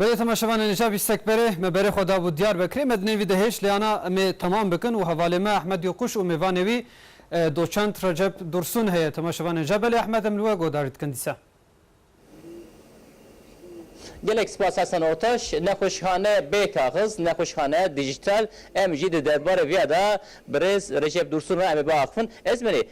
Berê temaşevanê Nîşa Bîstekberê me berê xwe dabû Diyarbekirê. Me di nêvî de hêj lê ana em ê temam bikin û hevalê me Ehmed Yokuş û mêvanê wî doçent Recep Dursun heye. Temaşevanê Ja belê Ehmed em li we guhdarî dikin dîsa. Gelek spas Hasan Oktaş, Nexweşxane bê kaxiz, nexweşxane dîjîtal, em jî di derbarê vêya de bi rêz Recep Dursun re em ê biaxivin. Ez berê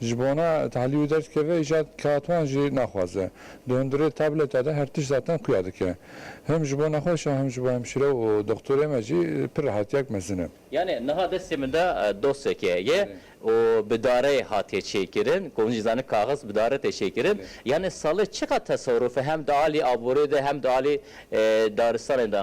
Ji bona tahlîl û derskevê îjad kağtwan jî naxwaze. Di hundirê tableta de her tişt zaten xuya dike. Him ji bo nexweşa him ji bo hemşîre û doxtorê me jî pir rehatiyek mezin e. Yanê niha destê min de dosyeke ye û bi dareyê hatiye çêkirin. Ku hûn jî zanin kaxiz bi dare tê çêkirin. Yanê salê çiqat teserufe hem di alî aboriyê de hem di alî daristanê de?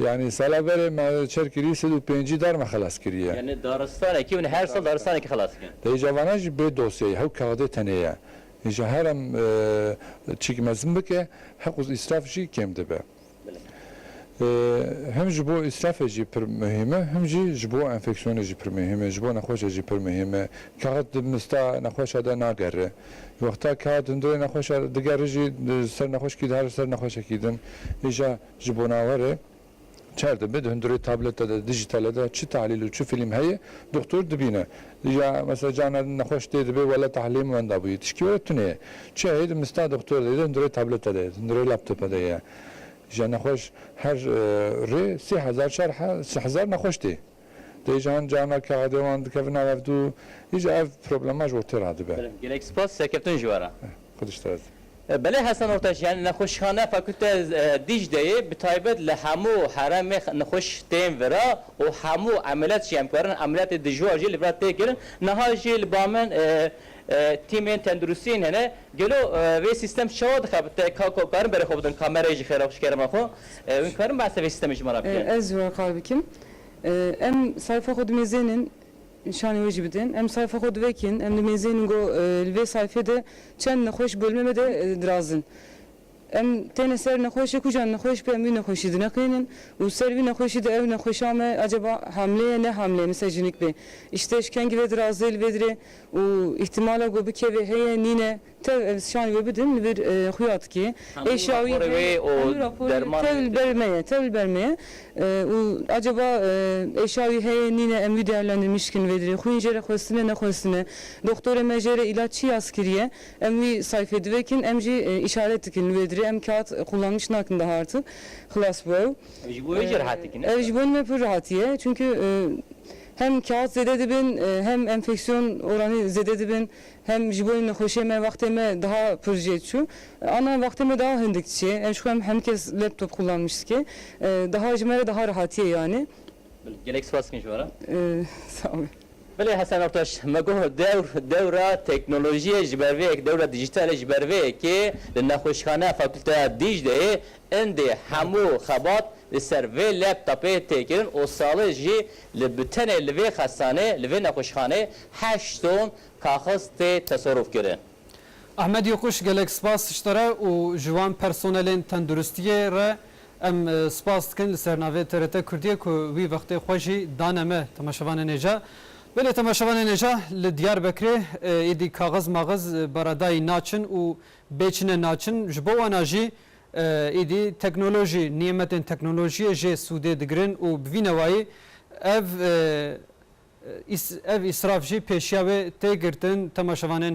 Yanî sala berê me çer kirî sed û pêncî dar me xelas kiriye. Yanî daristanekî hûn her sal daristanekî xelas dikin. Dê îca vanan jî bê dosyeyê hew kaxidê tenê ye. Îca herem çîk mezin bike heq û îsraf jî kêm dibe. Him ji bo îsrafê jî pir muhîm e him jî ji bo enfeksiyonê jî pir muhîm e, ji bo nexweşê jî pir muhîm e. Kaxid di mista nexweşa de nagere. Wexta ke hat hundirê nexweşa digerî jî ser nexweşkî dihar û ser nexweşekî din. Îja ji bonawerê çar dibe di hundirê tablete de, dijîtale de çi tahlîl û çi fîlm heye doxtor dibîne. Îja mesela cana nexweş tê dibe wela tahlîlê min wenda bûye. Tişkî were tune ye. Çi heye di mista doxtor de ye di hundirê tablete de ye, di hundirê laptope de ye. Îja nexweş her rê sê hezar çar hezar nexweş tê. Dêjan, carna ke adê wan dikevin nav ev du î ji ev problema ji bo tê radibe. Gelek spas serkeftin ji we re. Xwedîş te ez. Belê Hesen Ortaç, yanî nexweşxaneya Fakulte Dîcleyê bi taybet li hemû heremê nexweş tên vir a û hemû emeliyat jî em karin emeliyatê dijwar jî li vir a tê kirin. Niha jî li ba min tîmên tenduristiyên hene. Gelo vê sîstem çawa dixebite? Ka karin berê xwe bidin kamerayê ji xêra ji kerema xwe? Hûn karin behsa vê sîstemê ji me re bikin? Ez ji wan qal bikim. Em sayfa xwe dimêzênin, nîşanê wê jî bidin. Em sayfa xwe divekîn, em dimêzênin got li vê sayfê de çend nexweş bolmê me de diraz in. Em têne ser nexweşê ku jî nexweş be em wî nexweşî dineqînin û li ser vî nexweşî de ew nexweşa me acaba hamle ye ne hamle ye misal jinik bê îştê eşkengî vê dirazê li vê dirê û îhtimala got bikevê heye nîne. Tev ev sîyanî wê bidin li vir xuya dike. Ê şawî heye. Hemû raporê wê tev li ber me ye, tev li ber me ye. Û acaba ê şawî heye nîne em wî dewlendin mişkin vê dirê. Xwîn jê re xwestine nexwestine. Doxtorê me jê re îlac çi yaz kiriye. Em wî sayfê divekin em jî îşaret dikin li wê dirê. Em kat qullangiç nakin daha artik. Xilas bû ew. Ev ji bo wê jî rihat dike ne? Ev ji bo me pir rihatî ye. Çunku hem kat zêde dibin hem enfeksiyon oranî zêde dibin. Hem ji bo nexweşiyê me wextê me daha pir jê diçû. Ana wextê me daha hindik diçê. Em ji xwe em hemû kes laptop xûlanmiş dike. Daha ji me re daha rehatiye yanê. Bilê gelek spas dikim ji we re. Sağ ol. Bilê Hesen Ertaş, me got dewr dewra teknolojiyê ji ber vê yekê, dewra dîjîtalê ji ber vê yekê li nexweşxaneya Fakulteya Dîcleyê Endê hemû xebat li ser vê laptopê tê kirin û Salih jî li bi tenê li vê xestanê, li vê nexweşxanê heşt ton kaxiz tê teserûf kirin. Ahmet Yokuş gelek spas tişte re û ji wan personelên tenduristiyê re em spas dikin li ser navê TRT Kurdiyê ku wî vextê xwe jî dane me temaşevanên êca. Belê temaşevanên êca li Diyarbekirê êdî kaxiz maxiz beredayî naçin û bê çine naçin ji bo wan a jî Êdî teknolojî, nîmetên teknolojiyê jê sûdê digirin û bi vî newayî ev îsraf jî pêşiya wê tê girtin. Temaşevanên.